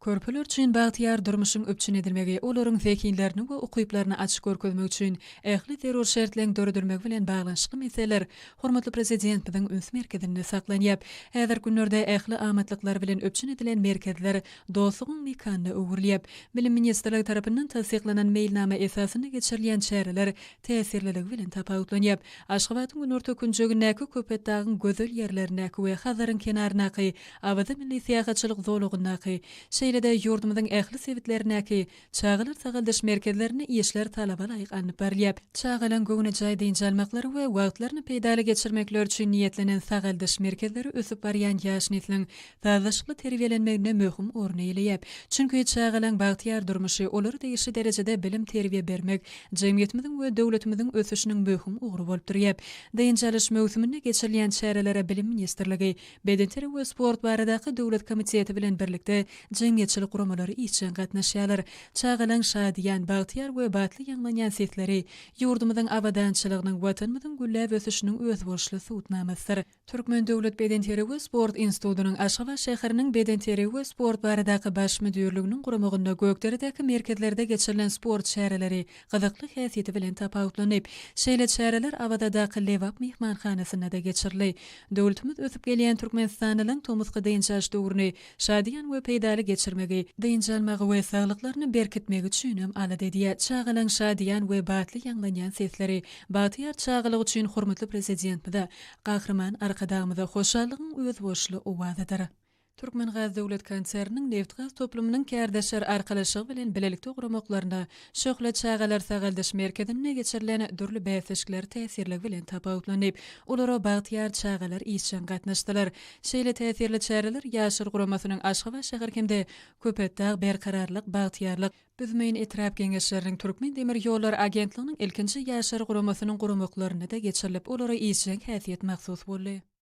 Körpeler üçin bagtyýar durmuşyň üpjün edilmegi olaryň zehinlerini we ukyplaryny açyp görkezmek üçin ähli zerur şertleň döredilmegi bilen baglanyşykly meseleler hormatly Prezidentimiziň üns merkezinde saklanýar. Häzirki günlerde ähli amatlyklar bilen üpjün edilen merkezler dostlugyň mekanyna öwrülýär. Bilim ministrligi tarapyndan tassyklanan meýilnama esasynda geçirilýän çäreler täsirliligi bilen tapawutlanýar. Aşgabadyň günorta künjegindäki Köpetdagyň gözel ýerlerindäki we Hazaryň kenaryndaky Awaza milli syýahatçylyk zolagyndaky, şeýle-de ýurdumyzyň ähli sebitlerindäki çagalar sagaldyş merkezlerinde işler talabalaýyk alnyp barylýar. Çagalaryň göwnejaý dynç almaklary we wagtlaryny peýdaly geçirmekleri üçin niýetlenen sagaldyş merkezleri ösüp barýan ýaş nesliň sazlaşykly terbiýelenmeginde möhüm orun eýeleýär. Çünki çagalaryň bagtyýar durmuşy, olara degişli derejede bilim-terbiýe bermek jemgyýetimiziň we döwletimiziň ösüşiniň möhüm ugry bolup durýar. Dynç alyş möwsüminde geçirilýän çärelere Bilim ministrligi, Bedenterbiýe we sport baradaky döwlet komiteti bilen birlikde jemgyýetçilik guramalary işjeň gatnaşýarlar. Çagalaň şadyýan, bagtyýar we batly ýaňlanýan sesleri, ýurdumyzyň abadançylygynyň, Watanymyzyň gülläp ösüşiniň özboluşly subutnamasydyr. Türkmen döwlet bedenterbiýe we sport institutynyň Aşgabat şäheriniň Bedenterbiýe we sport baradaky baş müdirliginiň guramagynda Gökderedäki merkezlerde geçirilen sport çäreleri gyzykly häsiýeti bilen tapawutlanyp, şeýle çäreler Awazadaky Lebap myhmanhanasynda-da geçirildi. Döwletimiz ösüp gelýän türkmenistanlylaryň tomusky dynç alyş döwrüni şadyýan we peýdaly geçirmegi, dynç almagy we saglyklaryny berkitmegi üçin hem alada edýär, çagalaryň şadyýan we batly ýaňlanýan sesleri bagtyýar çagalyk üçin hormatly Prezidentimize, Gahryman Arkadagymyza hoşallygyň özboluşly owazydyr. Türkmengaz döwlet konserniniň nebitgaz toplumynyň kärdeşler arkalaşygy bilen bilelikde guramaklarynda Şöhle çagalar sagaldyş merkezinde geçirilen dürli bäsleşikler täsirligi bilen tapawutlanyp, olara bagtyýar çagalar işjeň gatnaşdylar. Şeýle täsirli çäreler Ýaşlar guramasynyň Aşgabat şäher hem-de Köpetdag, Berkararlyk, Bagtyýarlyk, Büzmeýin etrap Geňeşleriniň Türkmen demir ýollary agentliginiň ilkinji Ýaşlar guramasynyň guramaklarynda-da geçirilip, olara işjeň häsiýet mahsus boldy.